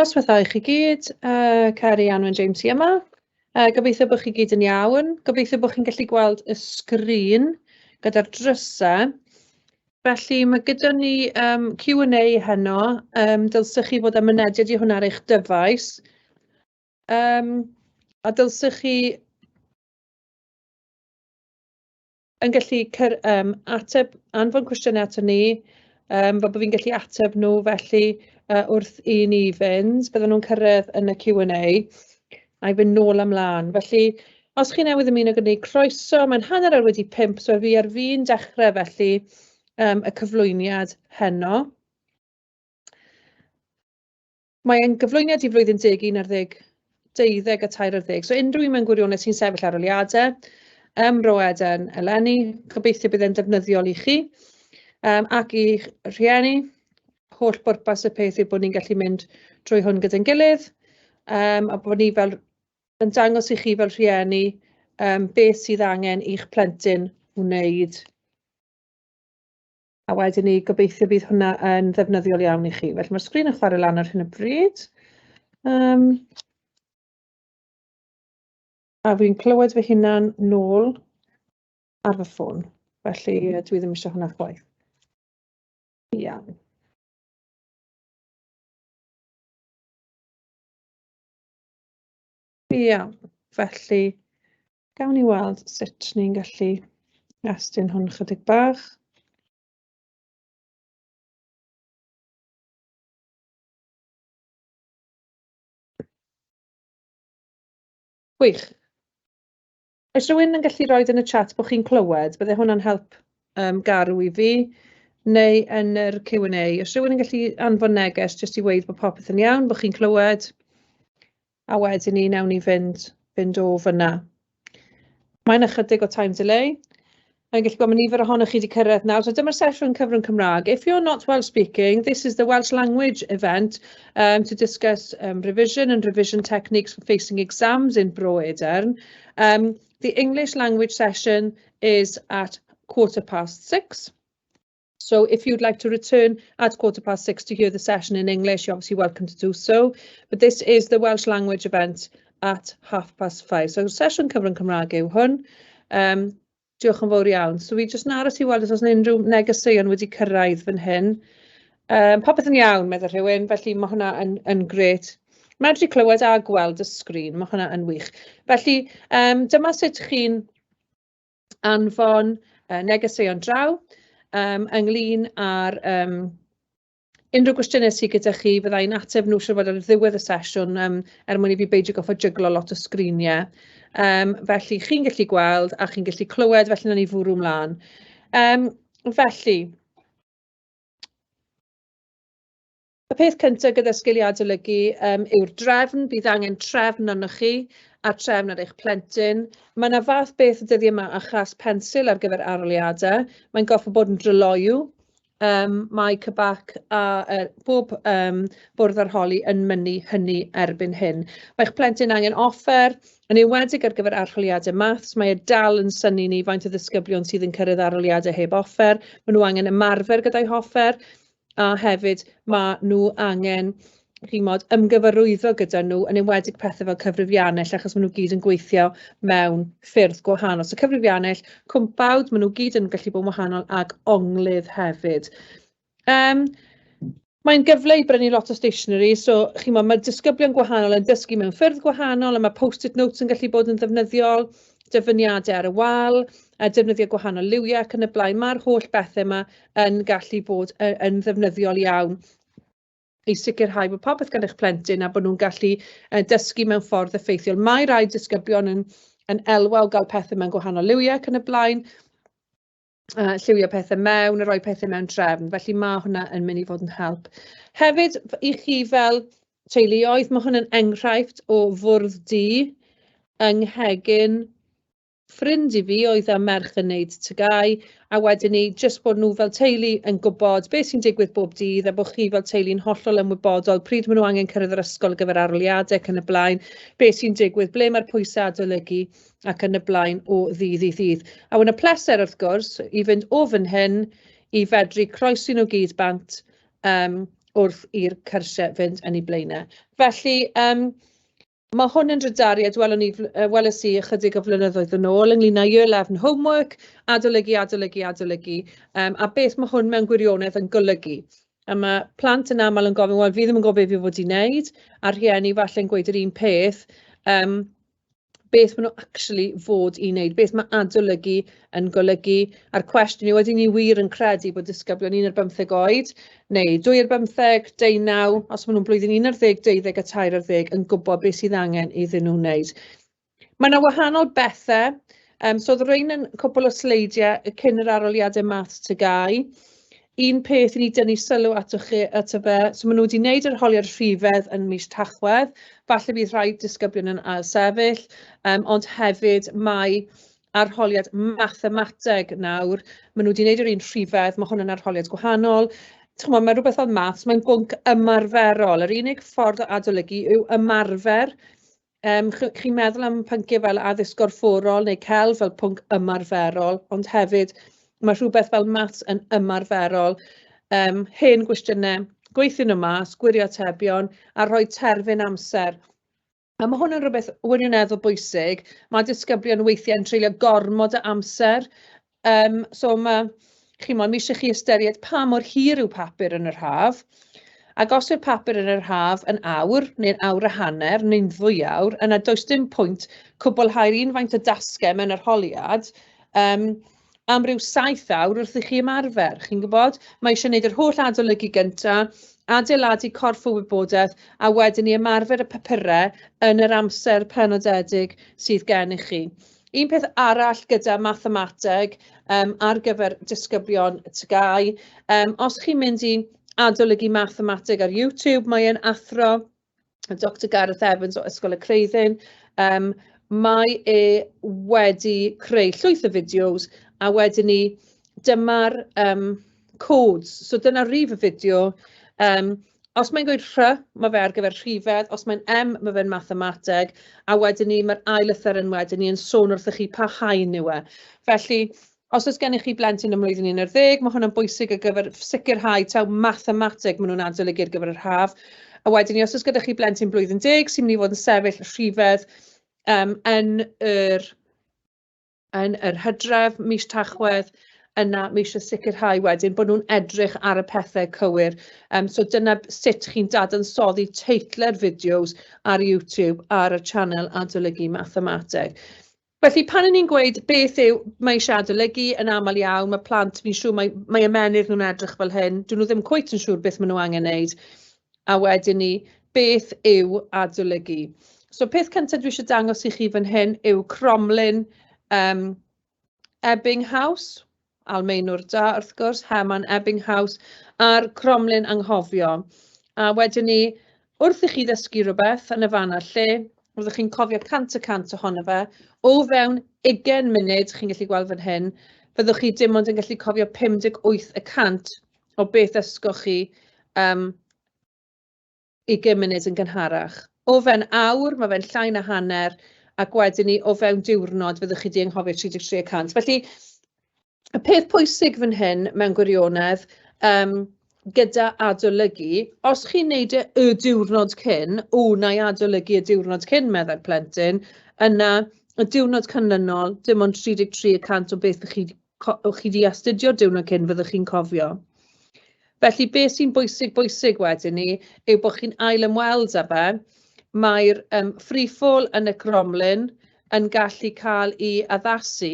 Noswaith dda i chi gyd, yy Ceri, Anwen, James sy yma. Yy gobeithio bod chi gyd yn iawn. Gobeithio bod chi'n gallu gweld y sgrin gyda'r drysau. Felly ma' gyda ni yym Q and A heno, yym dylsech chi fod â mynediad i hwnna ar eich dyfais. Yym a dylsech chi yn gallu cer, um, ateb anfon cwestiynau ato ni, um, fel bod fi'n gallu ateb nhw felly uh, wrth i ni fynd, bydden nhw'n cyrraedd yn y Q&A a'i fynd nôl amlaen. Felly, os chi newydd ymuno gyda ni, croeso, mae'n hanner ar wedi pimp, so fi ar fi'n dechrau felly um, y cyflwyniad heno. Mae ein gyflwyniad i flwyddyn deg, un ar ddeg, deuddeg a tair ar ddeg. So unrhyw un mewn gwirionedd sy'n sefyll ar oliadau, ym Mro Eden eleni, gobeithio bydd e'n defnyddiol i chi um, ac i rhieni. Holl bwrpas y peth yw bod ni'n gallu mynd drwy hwn gyda'n gilydd um, a bod ni fel yn dangos i chi fel rhieni um, beth sydd angen i'ch plentyn wneud. A wedyn ni, gobeithio bydd hwnna yn ddefnyddiol iawn i chi. Felly mae'r sgrin yn chwarae lan ar hyn o bryd. Um, a fi'n clywed fy hunan nôl ar fy ffôn. Felly dwi ddim eisiau hwnna chwaith. Iawn. Iawn, felly Gawn ni weld sut ni'n gallu estyn hwn chydig bach. Gwych. Oes rhywun yn gallu rhoi yn y chat bod chi'n clywed, byddai hwnna'n help um, garw i fi, neu yn yr Q&A. Oes rhywun yn gallu anfon neges jyst i weud bod popeth yn iawn, bod chi'n clywed? a wedyn ni newn ni fynd fynd o fyna. Mae'n ychydig o time delay. Mae'n gallu bod mae nifer ohonoch chi wedi cyrraedd nawr. So dyma'r sesiwn cyfrwng Cymraeg. If you're not well speaking, this is the Welsh language event um, to discuss um, revision and revision techniques for facing exams in Bro Edern. Um, the English language session is at quarter past six. So if you'd like to return at quarter past six to hear the session in English, you're obviously welcome to do so. But this is the Welsh language event at half past five. So sesiwn cyfrwng Cymraeg yw hwn. Um, diolch yn fawr iawn. So fi jyst yn aros i weld os oes unrhyw negeseuon wedi cyrraedd fan hyn. Um, popeth yn iawn, meddwl rhywun, felly mae hwnna yn, yn gret. Medru clywed a gweld y sgrin, mae hwnna yn wych. Felly, um, dyma sut chi'n anfon yy negeseuon draw yym ynglyn â'r yym unrhyw gwestiyne sy gyda chi fydda i'n ateb nhw siŵr o fod ar ddiwedd y sesiwn yym er mwyn i fi beidio gorfod jyglo lot o sgriniau yym felly chi'n gallu gweld a chi'n gallu clywed felly wnawn ni fwrw mlaen yym felly. Y peth cyntaf gyda sgiliau adolygu um, yw'r drefn. Bydd angen trefn arnoch chi a trefn ar eich plentyn. Mae yna fath beth y dyddiau yma a chas pensil ar gyfer aroliadau. Mae'n goffa bod yn dryloyw um, mae Cybac a er, bob um, bwrdd arholi yn mynnu hynny erbyn hyn. Mae'ch plentyn angen offer, yn ewedig ar gyfer arholiadau maths, mae e dal yn syni ni faint o ddisgyblion sydd yn cyrraedd arholiadau heb offer, maen nhw angen ymarfer gyda'i hoffer, a hefyd ma' nhw angen chimod ymgyfarwyddo gyda nhw yn enwedig pethe fel cyfrifiannell achos ma' nhw gyd yn gweithio mewn ffyrdd gwahanol so cyfrifiannell cwmpawd ma' nhw gyd yn gallu bod yn wahanol ag onglydd hefyd yym Mae'n gyfle i brynu lot o stationery, so chimod mae disgyblion gwahanol yn dysgu mewn ffyrdd gwahanol a mae post-it notes yn gallu bod yn ddefnyddiol. dyfyniadau ar y wal, a defnyddio gwahanol liwiau ac yn y blaen. Mae'r holl bethau yma yn gallu bod yn ddefnyddiol iawn i sicrhau bod popeth gan eich plentyn a bod nhw'n gallu uh, dysgu mewn ffordd effeithiol. Mae rai disgyblion yn, yn elwa o gael pethau mewn gwahanol liwiau ac yn y blaen, yy lliwio pethe mewn a rhoi pethe mewn trefn, felly ma' hwnna yn mynd i fod yn help. Hefyd f- i chi fel teuluoedd, ma' hwn yn enghraifft o fwrdd du yng nghegin ffrind i fi oedd â merch yn wneud tygau a wedyn ni jyst bod nhw fel teulu yn gwybod beth sy'n digwydd bob dydd a bod chi fel teulu'n hollol ymwybodol pryd maen nhw angen cyrraedd yr ysgol ar gyfer arholiadau ac yn y blaen, beth sy'n digwydd, ble mae'r pwysau adolygu. ac yn y blaen o ddydd i ddydd. A wedyn y pleser wrth gwrs i fynd o fan hyn i fedru croesi nhw gyd bant yym wrth i'r cyrsiau fynd yn eu blaenau. Felly yym ma' hwn yn drydariad welwn ni fl- yy welais i ychydig o flynyddoedd yn ôl ynglŷn â year 11 homework, adolygu, adolygu, adolygu yym a beth ma' hwn mewn gwirionedd yn golygu. A ma' plant yn aml yn gofyn wel fi ddim yn gwybod be fi fod i wneud a rhieni falle'n gweud yr un peth yym beth maen nhw actually fod i wneud, beth mae adolygu yn golygu, a'r cwestiwn yw, ydyn ni wir yn credu bod disgyblion 1 ar 15 oed, neu 2 ar 15, 19, os maen nhw'n blwyddyn 11, 12 a 13 ar ddeg, yn gwybod beth sydd angen iddyn nhw wneud. Mae yna wahanol bethau, um, so oedd rhain yn cwpl o sleidiau cyn yr aroliadau math tygau, Un peth i ni dynnu sylw ato chi, ato fe, so maen nhw wedi wneud yr holiad rhifedd yn mis Tachwedd, falle bydd rhai disgyblion yn ail sefyll, um, ond hefyd mae arholiad mathemateg nawr, maen nhw wedi wneud yr un rhifedd, mae hwn yn arholiad gwahanol, chymod, mae rhywbeth fel maths, mae'n bwnc ymarferol. Yr unig ffordd o adolygu yw ymarfer Yym, ch- chi'n meddwl am pynciau fel addysg gorfforol neu celf fel pwnc ymarferol, ond hefyd ma' rhywbeth fel maths yn ymarferol. Yym, hen gwestiynau, gweithiwr nhw mas, gwirio atebion a rhoi terfyn amser. A ma' hwn yn rhywbeth wirioneddol bwysig. Ma' disgyblion weithiau yn treulio gormod o amser Yym so ma'... chimod, ma' isie chi ystyried pa mor hir yw papur yn yr haf, ac os yw'r papur yn yr haf yn awr neu'n awr a hanner neu'n ddwy awr, yna does dim pwynt cwblhau'r un faint o dasgau mewn arholiad yym am ryw saith awr wrth i chi ymarfer, chi'n gwybod? Ma' isie wneud yr holl adolygu gynta, adeiladu corff o wybodaeth, a wedyn i ymarfer y papurau yn yr amser penodedig sydd gennych chi. Un peth arall gyda mathemateg yym ar gyfer disgyblion TGAU, yym os chi'n mynd i adolygu mathemateg ar YouTube, mae e'n athro Doctor Gareth Evans o Ysgol y Creuddyn, yym mae e wedi creu llwyth o fideos a wedyn 'ny dyma'r yym codes. So dyna rif y fideo. Um, os mae'n gweud rhy, mae fe ar gyfer rhifedd, os mae'n M, mae fe'n mathemateg, a wedyn ni, mae'r ail ythyr yn wedyn ni yn sôn wrthych chi pa haen yw e. Felly, os oes gennych chi blentyn ym mlwyddyn 11, mae hwnna'n bwysig ar gyfer sicrhau taw mathemateg maen nhw'n adolygu ar gyfer yr haf. A wedyn ni, os oes gyda chi blentyn blwyddyn 10 sy'n mynd i fod yn sefyll rhifedd um, yn yr yn yr hydref, mis Tachwedd, yna mae eisiau sicrhau wedyn bod nhw'n edrych ar y pethau cywir. Um, so dyna sut chi'n dadansoddi teitle'r fideos ar YouTube ar y channel Adolygu Mathemateg. Felly pan yn ni'n gweud beth yw mae eisiau adolygu yn aml iawn, mae plant, fi'n siŵr mae, mae ymenydd nhw'n edrych fel hyn, dyn nhw ddim cwyt yn siŵr beth maen nhw angen wneud. A wedyn 'ny, beth yw adolygu? So peth cynta dwi isie dangos i chi fan hyn yw cromlin um, Ebbinghaus, Almeinwr da wrth gwrs, Herman Ebbinghaus, a'r cromlin anghofio. A wedyn 'ny, wrth i chi ddysgu rhywbeth yn y fan a'r lle, roeddech chi'n cofio 100 y 100 ohono fe, o fewn 20 munud, chi'n gallu gweld fan hyn, fyddwch chi dim ond yn gallu cofio 58 y 100 o beth ddysgoch chi am ugain munud yn gynharach. O fewn awr, mae fe'n llai na hanner, ac wedyn ni, o fewn diwrnod, fyddwch chi 'di anghofio 33 y cant. Felly, y peth pwysig fan hyn mewn gwirionedd, yym, gyda adolygu, os chi'n wneud e y diwrnod cyn, "w, wna i adolygu y diwrnod cyn", meddai'r plentyn, yna y diwrnod canlynol, dim ond 33 y cant o beth 'dach chi co- o chi 'di astudio diwrnod cyn fyddwch chi'n cofio. Felly be sy'n bwysig bwysig wedyn ni yw bod chi'n ail ymweld â fe. Mae'r um, free fall yn y cromlin yn gallu cael ei addasu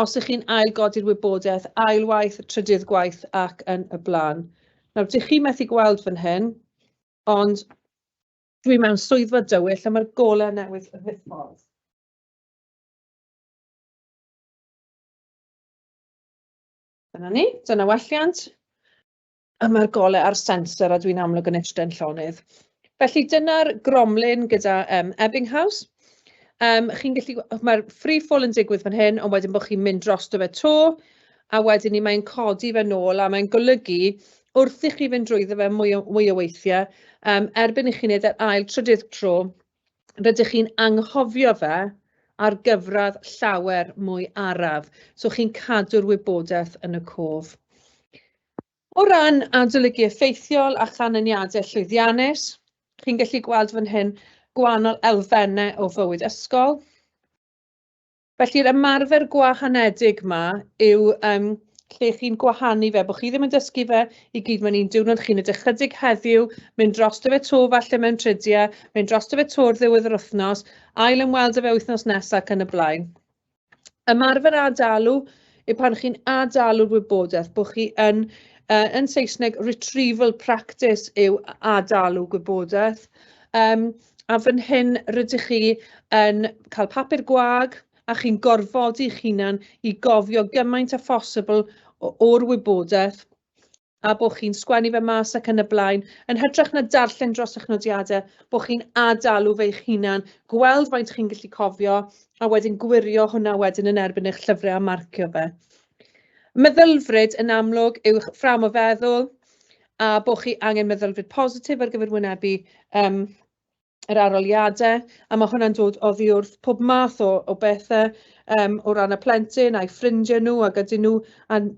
os ych chi'n ail godi'r wybodaeth ail waith, trydydd gwaith ac yn y blaen. Nawr, dych chi methu gweld fan hyn, ond dwi mewn swyddfa dywyll a mae'r golau newydd yn ddiffodd. Dyna ni, dyna welliant. A mae'r golau a'r sensor a dwi'n amlwg yn eistedd llonydd. Felly dyna'r gromlin gyda um, Ebbinghaus. Um, chi'n gallu, mae'r free fall yn digwydd fan hyn, ond wedyn bod chi'n mynd dros dy fe to, a wedyn ni mae'n codi fe nôl, a mae'n golygu wrth i chi fynd drwyddo fe mwy o, mwy o weithiau, um, erbyn i chi wneud yr ail trydydd tro, rydych chi'n anghofio fe ar gyfradd llawer mwy araf, so chi'n cadw'r wybodaeth yn y cof. O ran adolygu effeithiol a chanlyniadau llwyddiannus, chi'n gallu gweld fan hyn gwahanol elfennau o fywyd ysgol, Felly'r ymarfer gwahanedig 'ma yw yym lle chi'n gwahanu fe, bod chi ddim yn dysgu fe i gyd mae'n un diwrnod, chi'n edrych chydig heddiw, mynd dros dy fe to falle mewn tridiau, mynd dros dy fe to'r ddiwedd yr wythnos, ail ymweld â fe wythnos nesaf ac yn y blaen. Ymarfer adalu yw pan chi'n adalu'r wybodaeth, bod chi yn, uh, yn Saesneg, retrieval practice yw adalu gwybodaeth. Um, A fan hyn rydych chi yn cael papur gwag a chi'n gorfodi eich hunan i gofio gymaint â phosibl o'r wybodaeth a bod chi'n sgwennu fe mas ac yn y blaen, yn hytrach na darllen dros eich nodiadau, bod chi'n ad-alw fe eich hunan, gweld faint chi'n gallu cofio, a wedyn gwirio hwnna wedyn yn erbyn eich llyfrau a marcio fe. Meddylfryd yn amlwg yw'ch ffram o feddwl, a bod chi angen meddylfryd positif ar gyfer wynebu yym yr arholiadau, a mae hwnna'n dod oddi wrth pob math o, o bethau um, o ran y plentyn a'i ffrindiau nhw ac ydyn nhw yn,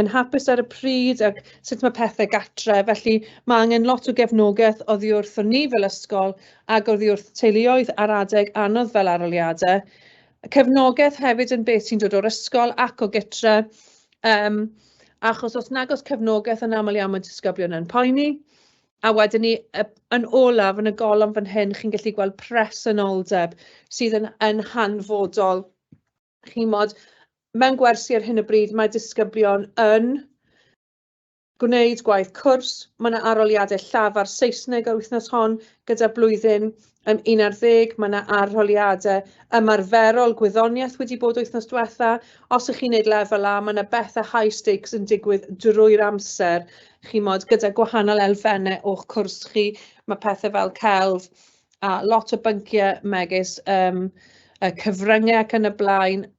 yn hapus ar y pryd ac sut mae pethau gatre. Felly mae angen lot o gefnogaeth oddi wrth o ni fel ysgol ac oddi wrth teuluoedd ar adeg anodd fel arholiadau. Cefnogaeth hefyd yn beth sy'n dod o'r ysgol ac o gytre Yym achos os nag oes cefnogaeth yn aml iawn mae disgyblion yn poeni a wedyn ni yy yn olaf yn y golofn fan hyn chi'n gallu gweld presenoldeb sydd yn yn hanfodol chimod mewn gwersi ar hyn o bryd mae disgyblion yn Gwneud gwaith cwrs, mae yna arholiadau llafar Saesneg yr wythnos hon gyda blwyddyn um, 11, mae yna arholiadau ymarferol gwyddoniaeth wedi bod wythnos diwetha. Os ych chi'n gwneud lefel A, mae yna bethau high stakes yn digwydd drwy'r amser, chi mod gyda gwahanol elfennau o'ch cwrs chi, mae pethau fel celf a lot o bynciau megis um, y cyfryngau ac yn y blaen,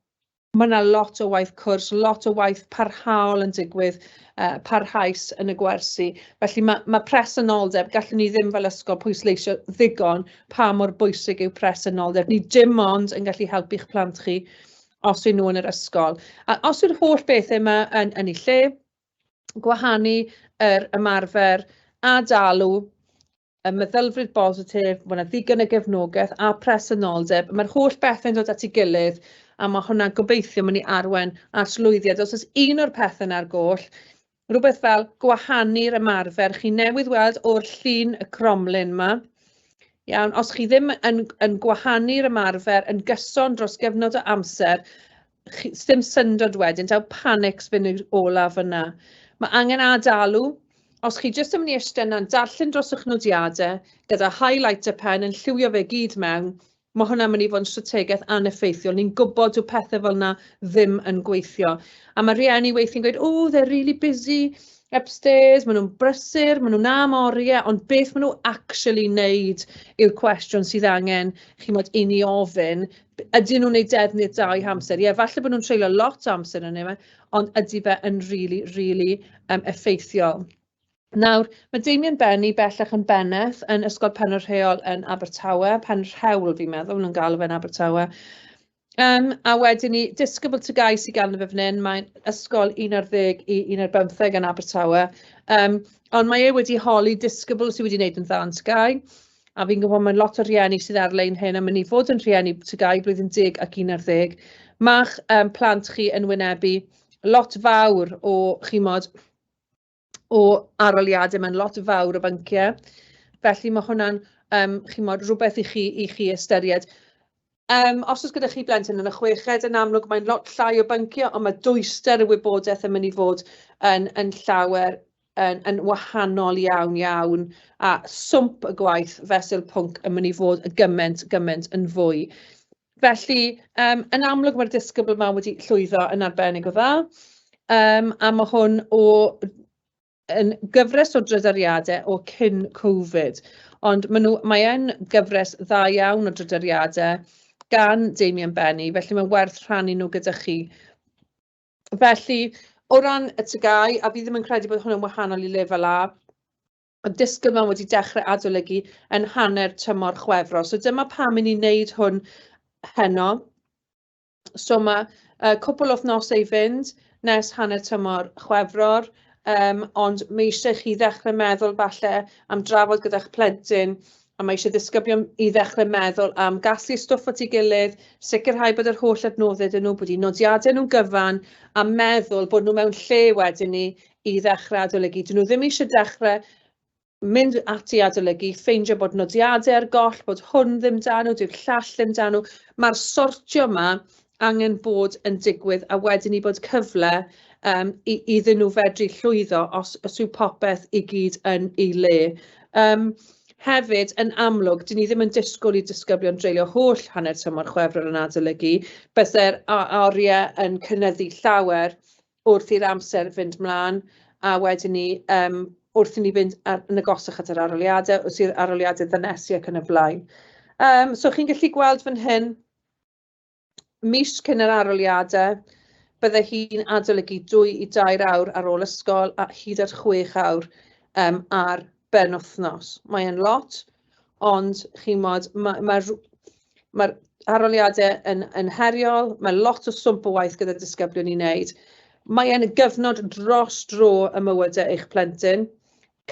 Mae yna lot o waith cwrs, lot o waith parhaol yn digwydd, uh, parhaus yn y gwersi. Felly mae, mae presenoldeb, gallwn ni ddim fel ysgol pwysleisio ddigon pa mor bwysig yw presenoldeb. Ni dim ond yn gallu helpu'ch plant chi os yw nhw yn yr ysgol. A os yw'r holl bethau yma yn, yn ei lle, gwahanu yr ymarfer a dalw y meddylfryd bositif, mae yna ddigon o gefnogaeth a presenoldeb. Mae'r holl bethau'n dod at ei gilydd a mae hwnna'n gobeithio mynd i arwen at lwyddiad. Os oes un o'r pethau na'r goll, rhywbeth fel gwahanu'r ymarfer. Chi newydd weld o'r llun y cromlin yma. Iawn, os chi ddim yn, yn gwahanu'r ymarfer yn gyson dros gyfnod o amser, chi... sdim syndod wedyn taw panics fyn' i'r olaf fyn' 'na. Ma' angen ad-alw, os chi jyst yn myn' i iste 'na'n darllen dros y'ch nodiade gyda highlighter pen yn lliwio fe gyd mewn, ma' hwnna'n myn' i fod yn strategeth aneffeithiol, ni'n gwbod dyw pethe fel 'na ddim yn gweithio. A ma' rhieni weithie'n gweud oh they're really busy upstairs, ma' nhw'n brysur, ma' nhw 'na am orie, ond beth ma' nhw actually 'neud yw'r cwestiwn sydd angen chimod i ni ofyn, Ydyn nhw'n wneud defnydd da o'u hamser? Ie, falle bod nhw'n treulio lot o amser yn yna, ond ydy fe yn rili, rili yym effeithiol. Nawr, mae Damien Benny bellach yn bennaeth yn Ysgol Penrhyn Rheol yn Abertawe, Penrhewl fi'n meddwl, nhw'n galw fe'n Abertawe. Um, a wedyn ni, Discable to Guy sy'n galw fe fan hyn, mae'n ysgol 11 i 15 yn Abertawe. Um, ond mae e wedi holi Discable sydd wedi wneud yn dda yn Sky. a fi'n gwybod mae'n lot o rhieni sydd ar-lein hyn am wn i fod yn rhieni TGAU blwyddyn deg ac un ar ddeg, ma'ch um, plant chi yn wynebu lot fawr o chimod o aroliadau, mae'n lot fawr o bynciau. Felly mae hwnna'n um, chimod, rhywbeth i chi, i chi ystyried. Yym, os oes gyda chi blentyn yn y chweched, yn amlwg mae'n lot llai o byncio, ond mae dwyster y wybodaeth yn mynd i fod yn, yn llawer yn, yn wahanol iawn iawn, a swmp y gwaith fesul pwnc yn mynd i fod y gymaint, gymaint yn fwy. Felly, um, yn amlwg mae'r disgybl yma wedi llwyddo yn arbennig o dda, um, a mae hwn o yn gyfres o drydariadau o cyn Covid, ond maen nhw... mae e'n gyfres dda iawn o drydariadau gan Damian Benny, felly mae'n werth rhannu nhw gyda chi. Felly, o ran y TGAU, a fi ddim yn credu bod hwn yn wahanol i lefel A, y disgybl yma wedi dechrau adolygu yn hanner tymor Chwefror. So dyma pam i ni'n wneud hwn heno. So ma' yy cwpwl o wythnose i fynd nes hanner tymor Chwefror yym ond ma' isie chi ddechre meddwl falle am drafod gyda'ch plentyn a ma' isie ddisgyblion i ddechre meddwl am gasglu stwff at 'i gilydd, sicirhau bod yr holl adnodde 'da nw, bod 'u nodiade nw'n gyfan a meddwl bod nw mewn lle wedyn 'ny i ddechre adolygu. 'Dyn nw ddim isie dechre mynd at i adolygu, ffeindio bod nodiadau ar goll, bod hwn ddim dan nhw, dyw'r llall ddim dan nhw. Mae'r sortio yma angen bod yn digwydd a wedyn i bod cyfle um, i, iddyn nhw fedru llwyddo os, os yw popeth i gyd yn ei le. Um, Hefyd, yn amlwg, dyn ni ddim yn disgwyl i disgyblion dreulio holl hanner tymor chwefror yn adolygu. Byddai'r oriau yn cynnyddu llawer wrth i'r amser fynd mlaen, a wedyn 'ny yym wrth i ni fynd ar yn agosach at yr aroliade, os yw'r aroliade ddynesu ac yn y flaen. Yym so chi'n gallu gweld fan hyn, mis cyn yr aroliade, bydde hi'n adolygu dwy i dair awr ar ôl ysgol a hyd at chwech awr yym ar ben wythnos. Mae e'n lot, Ond chimod, ma' ma' r- ma'r arholiadau yn yn heriol, ma' lot o swmp o waith gyda'r disgyblion i wneud. Mae e'n gyfnod dros dro ym mywydau eich plentyn,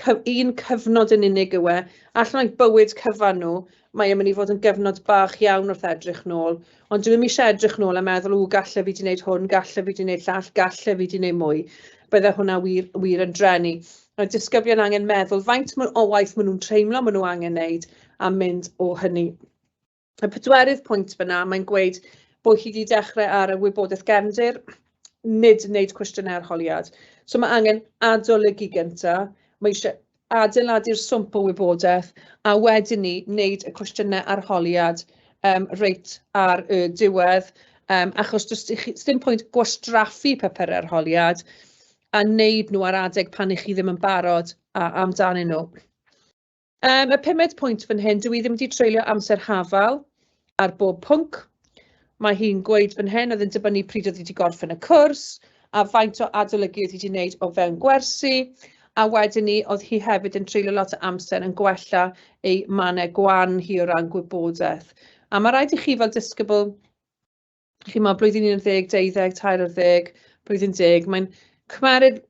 cy- un cyfnod yn unig yw e, allan o'u bywyd cyfan nhw, mae e'n mynd i fod yn gyfnod bach iawn wrth edrych nôl. Ond dwi ddim eisiau edrych nôl a meddwl, 'w, galle fi 'di wneud hwn, galle fi 'di wneud llall, galle fi 'di wneud mwy. Bydde hwnna wir, wir yn drenu. Mae disgyblion angen meddwl faint o waith maen nhw'n teimlo maen nhw angen wneud a mynd o hynny. Y pedwerydd pwynt fyna, mae'n gweud bod chi wedi dechrau ar y wybodaeth gefndir, nid wneud cwestiynau arholiad. So mae angen adolygu gyntaf, mae eisiau adeiladu'r swmp o wybodaeth, a wedyn ni wneud y cwestiynau arholiad um, reit ar y diwedd, um, achos does dim pwynt gwastraffu papur arholiad a wneud nhw ar adeg pan ych chi ddim yn barod a, amdanyn nhw. Um, y pumed pwynt fan hyn, dwi ddim wedi treulio amser hafal, ar bob pwnc. Mae hi'n gweud fan hyn oedd yn dibynnu pryd oedd wedi gorffen y cwrs a faint o adolygu oedd wedi wneud o fewn gwersi a wedyn ni oedd hi hefyd yn treulio lot o amser yn gwella ei mannau gwan hi o ran gwybodaeth. A mae rhaid i chi fel disgybl chimod, blwyddyn un ar ddeg, deuddeg, tair ar ddeg, blwyddyn deg, mae'n cymryd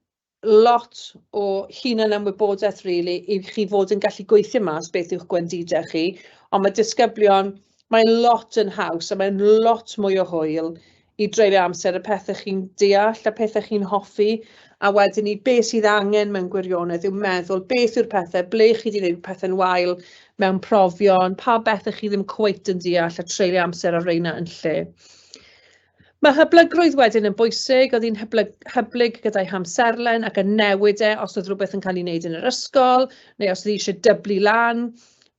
lot o hunanymwybodaeth rili i chi fod yn gallu gweithio mas beth yw'ch gwendidau chi, ond mae disgyblion, mae'n lot yn haws a mae'n lot mwy o hwyl i dreulio amser y pethau chi'n deall, y pethau chi'n hoffi, a wedyn ni beth sydd angen mewn gwirionedd yw meddwl beth yw'r pethau, ble chi wedi gwneud pethau'n wael, mewn profion, pa bethe chi ddim cweit yn deall a treulio amser ar reina yn lle. Mae hyblygrwydd wedyn yn bwysig, oedd hi'n hyblyg, hyblyg gyda'i hamserlen ac yn newid e os oedd rhywbeth yn cael ei wneud yn yr ysgol, neu os oedd hi eisiau dyblu lan,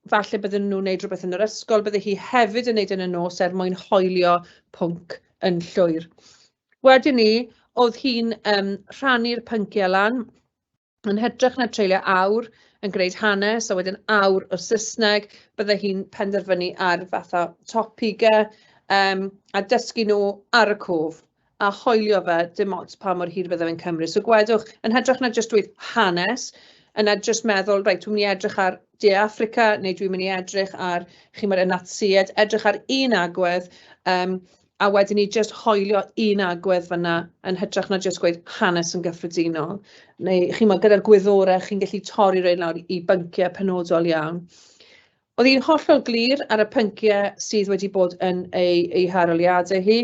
falle bydden nhw'n wneud rhywbeth yn yr ysgol, bydde hi hefyd yn wneud yn y nos er mwyn hoelio pwnc yn llwyr. Wedyn ni, oedd hi'n um, rhannu'r pynciau lan, Yn hytrach na treulio awr yn gwneud hanes a wedyn awr o Saesneg, bydde hi'n penderfynu ar fatha topigau um, a dysgu nhw ar y cwf a hoelio fe dim ots pa mor hir fydde fe'n cymryd. So gwedwch, yn hytrach na jyst dweud hanes, yna jyst meddwl, reit, dwi'n mynd i edrych ar De Africa neu dwi'n mynd i edrych ar, chi'n chi'mod, y Natsïed, edrych ar un agwedd, um, a wedyn ni jyst hoelio un agwedd fanna yn hytrach na jyst gweud hanes yn gyffredinol. Neu chimod gyda'r gwyddorau chi'n gallu torri rein lawr i bynciau penodol iawn. Oedd hi'n hollol glir ar y pynciau sydd wedi bod yn ei ei haroliadau hi.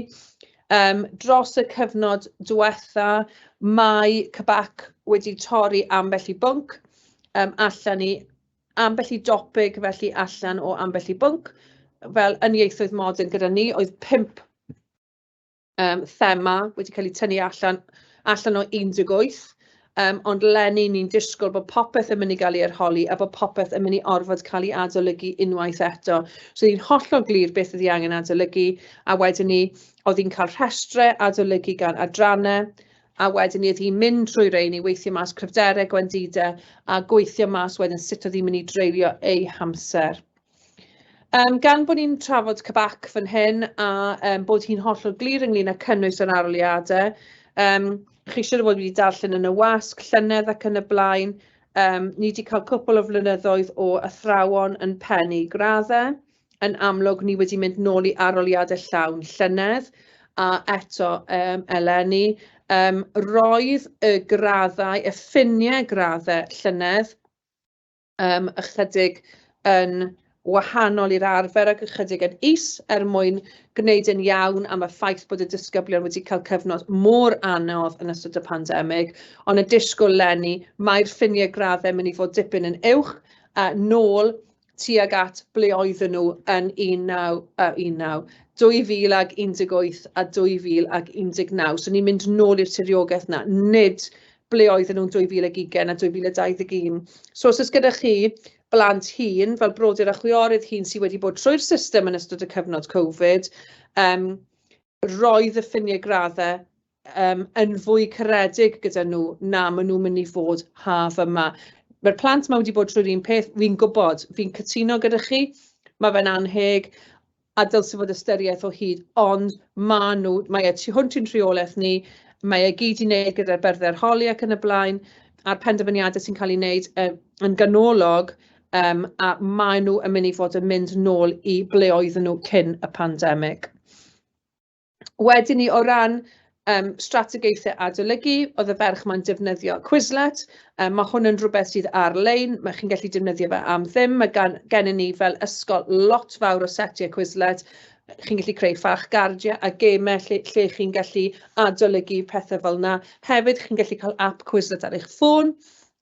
Yym dros y cyfnod diwetha mae CBAC wedi torri ambell i bwnc yym allan i ambell i dopig felly allan o ambell i bwnc, fel yn ieithoedd modern gyda ni oedd pump yym thema wedi cael eu tynnu allan allan o 18, yym ond 'leni ni'n disgwyl bod popeth yn mynd i gael ei arholi a bod popeth yn mynd i orfod cael ei adolygu unwaith eto. So ni'n hollol glir beth ydy angen adolygu a wedyn ni oedd hi'n cael rhestrau adolygu gan adrannau, a wedyn ni oedd hi'n mynd trwy rein i weithio mas cryfderau gwendidau a gweithio mas wedyn sut oedd hi'n mynd i dreulio ei hamser. Um, gan bod ni'n trafod cybac fan hyn a um, bod hi'n hollol glir ynglyn â cynnwys yr aroliadau, um, chi siwr o fod wedi darllen yn y wasg, llynedd ac yn y blaen, um, ni wedi cael cwpl o flynyddoedd o athrawon yn pennu graddau. yn amlwg ni wedi mynd nôl i aroliade llawn llynedd a eto yym eleni yym roedd y graddau y ffiniau graddau llynedd yym ychydig yn wahanol i'r arfer ac ychydig yn is er mwyn gwneud yn iawn am y ffaith bod y disgyblion wedi cael cyfnod mor anodd yn ystod y pandemig ond y disgwyl leni mae'r ffiniau graddau mynd i fod dipyn yn uwch a nôl tuag at ble oedden nhw yn 19... yy 19... 2018 a 2019. So ni'n mynd nôl i'r tiriogaeth 'na, nid ble oedden nhw'n 2020 a 2021. So os oes gyda chi blant hŷn, fel brodyr a chwiorydd hŷn sy wedi bod trwy'r system yn ystod y cyfnod Covid, yym roedd y ffiniau graddau um, yn fwy caredig gyda nhw na maen nhw'n mynd i fod haf yma. Mae'r plant yma wedi bod trwy'r un peth, fi'n gwybod, fi'n cytuno gyda chi, mae fe'n anheg, a dylse fod ystyriaeth o hyd, ond mae nhw, mae e tu hwnt i'n rheolaeth ni, mae e gyd i wneud gyda'r byrddau holi ac yn y blaen, a'r penderfyniadau sy'n cael ei wneud uh, yn ganolog yym a maen nhw yn mynd i fod yn mynd nôl i ble oedden nhw cyn y pandemig. Wedyn ni o ran um, strategaethau adolygu, oedd y ferch mae'n defnyddio Quizlet, um, mae hwn yn rhywbeth sydd ar-lein, mae chi'n gallu defnyddio fe am ddim, mae gan, gennym ni fel ysgol lot fawr o setiau Quizlet, chi'n gallu creu ffach gardiau a gemau lle, lle chi'n gallu adolygu pethau fel yna. Hefyd, chi'n gallu cael app Quizlet ar eich ffôn,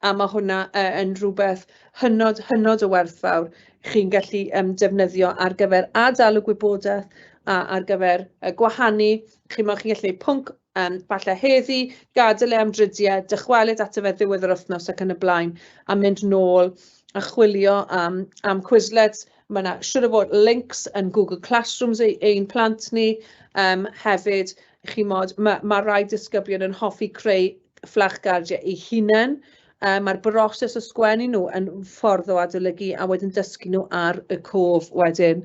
a ma' hwnna yy yn rhywbeth hynod hynod o werthfawr chi'n gallu yym defnyddio ar gyfer ad-dal y gwybodaeth a ar gyfer yy gwahanu, chimod chi'n gallu wneud pwnc yym falle heddi, gadael e am dridiau, dychwelyd ato fe ddiwedd yr wythnos ac yn y blaen, a mynd nôl a chwilio am am Quizlets, ma' 'na siŵr o fod lincs yn Google Classrooms i ein plant ni yym hefyd, chimod, ma' ma' rai disgyblion yn hoffi creu fflachgardiau eu hunain, yy ma'r broses o sgwennu nhw yn ffordd o adolygu a wedyn dysgu nhw ar y cof wedyn.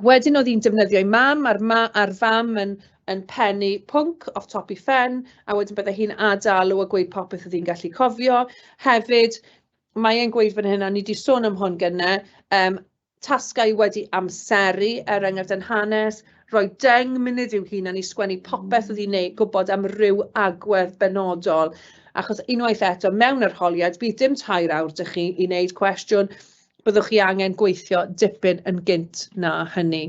Wedyn oedd hi'n defnyddio ei mam, a'r ma- a'r fam yn yn pennu pwnc off top ei phen, a wedyn byddai hi'n ad-alw a gweud popeth oedd hi'n gallu cofio. Hefyd, mae e'n gweud fan hyn, a ni 'di sôn am hwn gynne, yym tasgau wedi amseru, er enghraifft yn hanes, rhoi deng munud i'w hunan i sgwennu popeth oedd hi'n ei gwybod am ryw agwedd benodol. Achos unwaith eto, mewn arholiad, bydd dim tair awr dych chi i wneud cwestiwn, byddwch chi angen gweithio dipyn yn gynt na hynny.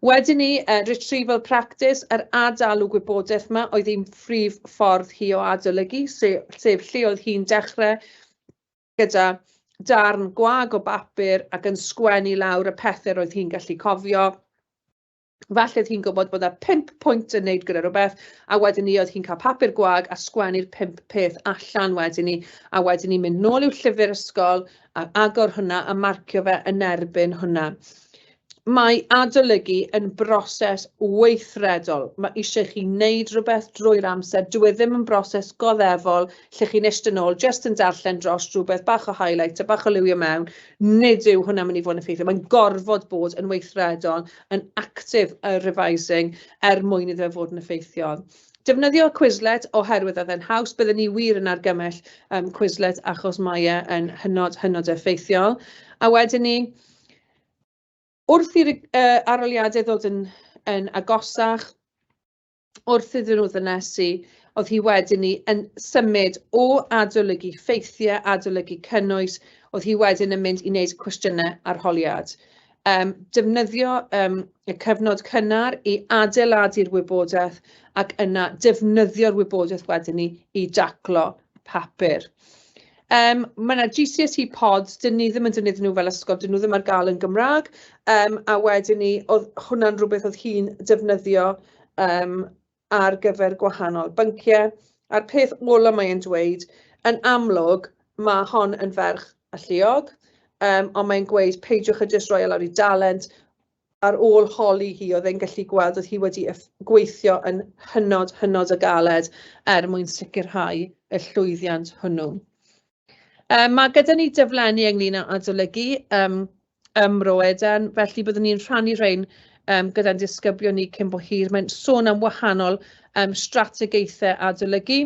Wedyn ni, uh, retrieval practice, yr adalw gwybodaeth yma oedd ein prif ffordd hi o adolygu, sef, sef lle oedd hi'n dechrau gyda darn gwag o bapur ac yn sgwennu lawr y pethau roedd hi'n gallu cofio. Falle oedd hi'n gwybod bod yna pimp pwynt yn wneud gyda rhywbeth, a wedyn ni oedd hi'n cael papur gwag a sgwennu'r pimp peth allan wedyn ni, a wedyn ni'n mynd nôl i'w llyfr ysgol a agor hwnna a marcio fe yn erbyn hwnna. mae adolygu yn broses weithredol. Mae eisiau chi wneud rhywbeth drwy'r amser. Dwi e ddim yn broses goddefol lle chi'n eistedd nôl, jyst yn darllen dros rhywbeth, bach o highlight a bach o liwio mewn. Nid yw hwnna'n mynd i fod yn effeithiol. Mae'n gorfod bod yn weithredol, yn active a revising er mwyn iddo fe fod yn effeithiol. Defnyddio Quizlet oherwydd oedd e'n haws. Byddwn ni wir yn argymell um, Quizlet achos mae e yn hynod, hynod effeithiol. A wedyn ni, Wrth i'r arholiadau ddod yn agosach, wrth iddyn nhw ddynesu, oedd hi wedyn 'ny yn symud o adolygu ffeithiau, adolygu cynnwys, oedd hi wedyn yn mynd i wneud cwestiynau arholiad. Defnyddio y cyfnod cynnar i adeiladu'r wybodaeth ac yna defnyddio'r wybodaeth wedyn 'ny i daclo papur. Yym ma' 'na GCSE pods, 'dyn ni ddim yn defnyddio nhw fel ysgol, 'dyn nhw ddim ar gael yn Gymraeg, yym a wedyn 'ny oedd hwnna'n rywbeth oedd hi'n defnyddio yym ar gyfer gwahanol bynciau. A'r peth ola mae e'n dweud, yn amlwg ma' hon yn ferch alluog, yym ond mae'n gweud peidiwch â jyst rhoi e lawr i dalent, Ar ôl holi hi, oedd e'n gallu gweld oedd hi wedi gweithio yn hynod, hynod o galed er mwyn sicrhau y llwyddiant hwnnw. Yym ma' gyda ni daflenni ynglyn â adolygu yym ym Mro Eden, felly byddwn ni'n rhannu rhein yym gyda'n disgyblion ni cyn bo hir. Mae'n sôn am wahanol yym strategaethau adolygu,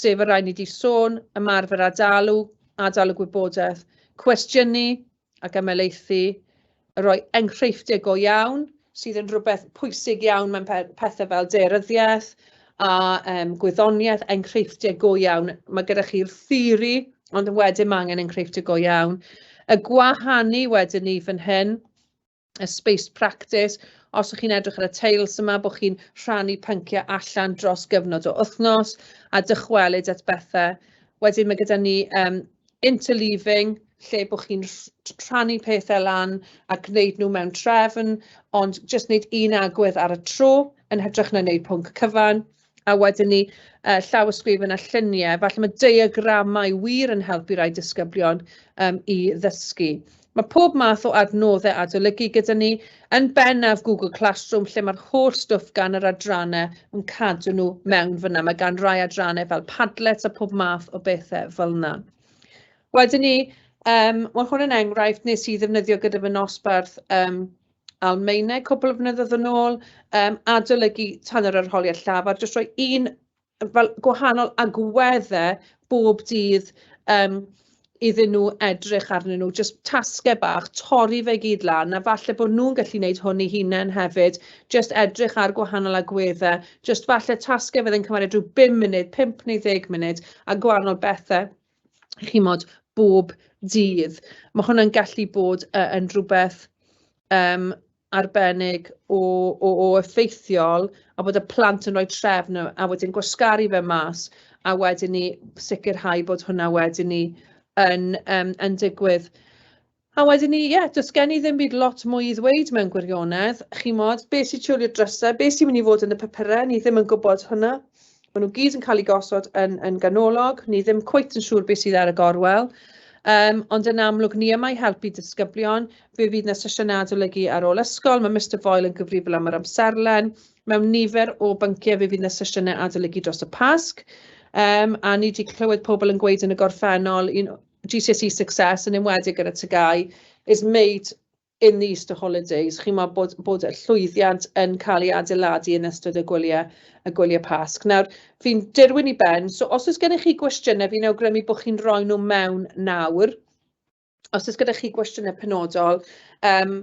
sef y rhai ni 'di sôn, ymarfer ad-alw, ad-alw gwybodaeth, cwestiynu, ac ymhelaethu, rhoi enghreifftiau go iawn, sydd yn rhywbeth pwysig iawn mewn pethau fel daearyddiaeth a um, gwyddoniaeth, enghreifftiau go iawn. Mae gyda chi'r theori, ond wedyn mae angen enghreifftiau go iawn. Y gwahanu wedyn ni fan hyn, y spaced practice, os ych chi'n edrych ar y teils yma, bod chi'n rhannu pynciau allan dros gyfnod o wythnos a dychwelyd at bethau. Wedyn mae gyda ni um, interleaving, lle bod chi'n rhannu pethau lan a gwneud nhw mewn trefn, ond jyst wneud un agwedd ar y tro yn hytrach na wneud pwnc cyfan. a wedyn 'ny yy llawysgrifen a lluniau, falle ma' diagramau wir yn helpu rai disgyblion yym i ddysgu. Ma' pob math o adnoddau adolygu gyda ni, yn bennaf Google Classroom lle mae'r holl stwff gan yr adrannau yn cadw nhw mewn fanna. Mae gan rai adrannau fel Padlet a pob math o bethau fel 'na. Wedyn 'ny yym wel hwn yn enghraifft wnes i ddefnyddio gyda fy nosbarth yym Almaeneg cwpl o flynyddoedd yn ôl, um, adolygu tan yr arholiad llafar, jyst rhoi un fel gwahanol agweddau bob dydd um, iddyn nhw edrych arnyn nhw, jyst tasgau bach, torri fe gyd lan, a falle bod nhw'n gallu gwneud hwn i hunain hefyd, jyst edrych ar gwahanol agweddau, jyst falle tasgau fydde'n cymryd rhyw 5 munud, 5 neu 10 munud, a gwahanol bethau. chimod, bob dydd. Ma' hwnna'n gallu bod yy yn rywbeth yym arbennig o o o effeithiol, a bod y plant yn rhoi trefn a a wedyn gwasgaru fe mas, a wedyn 'ny sicrhau bod hwnna wedyn 'ny yn yym yn digwydd. A wedyn ni, ie, does gen i ddim byd lot mwy i ddweud mewn gwirionedd. Chimod, be sy'n siwlio drysau, be sy'n mynd i fod yn y papurau, ni ddim yn gwybod hwnna. Maen nhw gyd yn cael eu gosod yn, yn ganolog, ni ddim cweit yn siŵr beth sydd ar y gorwel. Um, ond yn amlwg, ni yma i helpu disgyblion. Fe fydd yna sesiynau adolygu ar ôl ysgol, mae Mr Foyle yn gyfrifol am yr amserlen. Mewn nifer o bynciau fe fydd yna sesiynau adolygu dros y Pasg. Um, a ni wedi clywed pobl yn gweud yn y gorffennol, un, GCSE success, yn enwedig yn y TGAU, is made in the Easter holidays. Chimod, bod bod y llwyddiant yn cael ei adeiladu yn ystod y gwyliau y gwyliau Pasg. Nawr, fi'n dirwyn i ben, so os oes gennych chi gwestiynau, fi'n awgrymu bod chi'n rhoi nhw mewn nawr. Os oes gyda chi gwestiynau penodol, um,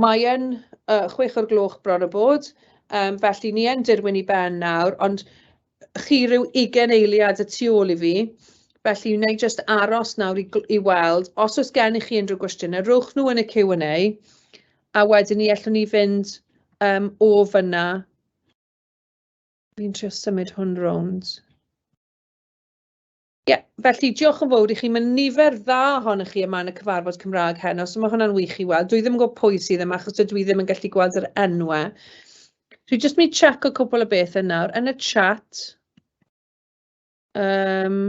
Mae e'n chwech o'r gloch bron a bod, yym felly ni yn dirwyn i ben nawr, ond chi ryw ugain eiliad y tu ôl i fi, felly wna i jyst aros nawr i gl- i weld os oes gennych chi unrhyw gwestiynau, rowch nhw yn y Q and A, a wedyn ni allwn ni fynd yym o fan'na. Fi'n trio symud hwn rownd. Ie, felly diolch yn fawr i chi. Mae nifer dda ohonoch chi yma yn y cyfarfod Cymraeg heno, so mae hwnna'n wych i weld. Dwi ddim yn gwybod pwy sydd yma, achos dydw i ddim yn gallu gweld yr enwau. Dwi jyst mynd i check o cwpl o beth yn nawr. Yn y chat, um,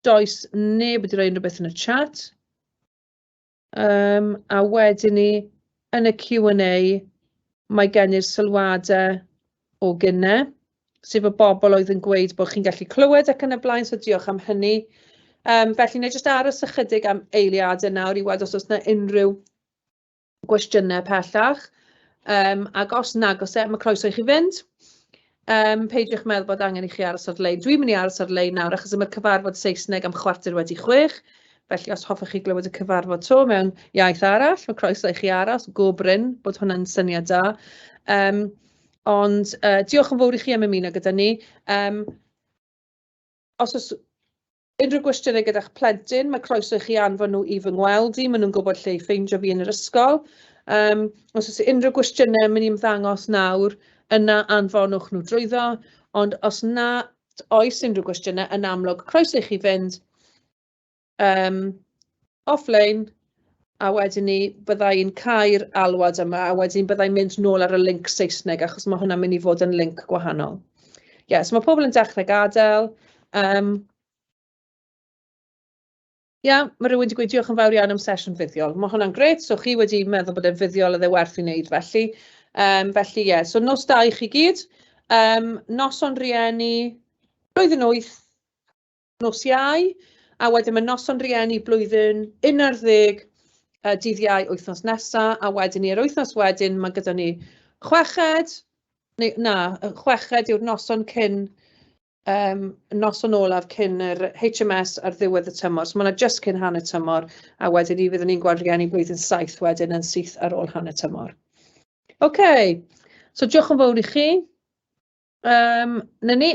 does neb wedi rhoi unrhyw beth yn y chat. Yym a wedyn 'ny yn y Q and A mae gen i'r sylwadau o gynne, sef y bobl oedd yn gweud bod chi'n gallu clywed ac yn y blaen, so diolch am hynny. Yym felly wna i jyst aros ychydig am eiliadau nawr i weld os oes 'na unrhyw gwestiynau pellach, yym ac os nag oes e, ma' croeso i chi fynd. Yym, peidiwch meddwl bod angen i chi aros ar lein. Dwi'n mynd i aros ar lein nawr achos y mae'r cyfarfod Saesneg am chwarter wedi chwech. Felly os hoffech chi glywed y cyfarfod to mewn iaith arall, mae croeso i chi aros, go bryn bod hwnna'n syniad da. Um, ond uh, diolch yn fawr i chi am ymuno gyda ni. Um, os oes Unrhyw gwestiynau gyda'ch plentyn, mae croeso i chi anfon nhw i fy ngweld i, maen nhw'n gwybod lle i ffeindio fi yn yr ysgol. Um, os oes unrhyw gwestiynau, mynd i'n ymddangos nawr, yna anfonwch nhw drwyddo, ond os na oes unrhyw gwestiynau, yn amlwg, croeso i chi fynd um, offline, a wedyn ni bydda i'n cau'r alwad yma, a wedyn bydda i'n mynd nôl ar y link Saesneg, achos mae hwnna'n mynd i fod yn link gwahanol. Ie, yeah, so mae pobl yn dechrau gadael. Um, Ie, yeah, mae rhywun wedi gweud diolch yn fawr iawn am sesiwn fuddiol. Mae hwnna'n gret, so chi wedi meddwl bod e'n fuddiol a dde werth i wneud felly. Um, felly ie, yeah. so nos da i chi gyd. Um, noson rieni, roedd yn wyth, nos Iau, a wedyn mae noson rhieni blwyddyn un ar ddeg y dydd Iau wythnos nesaf, a wedyn ni yr wythnos wedyn mae gyda ni chweched, neu na, chweched yw'r noson cyn um, noson olaf cyn yr HMS ar ddiwedd y tymor. So mae yna just cyn hanner tymor, a wedyn ni fydd ni'n gweld rhieni blwyddyn saith wedyn yn syth ar ôl hanner tymor. OK, so diolch yn fawr i chi. Um, na ni.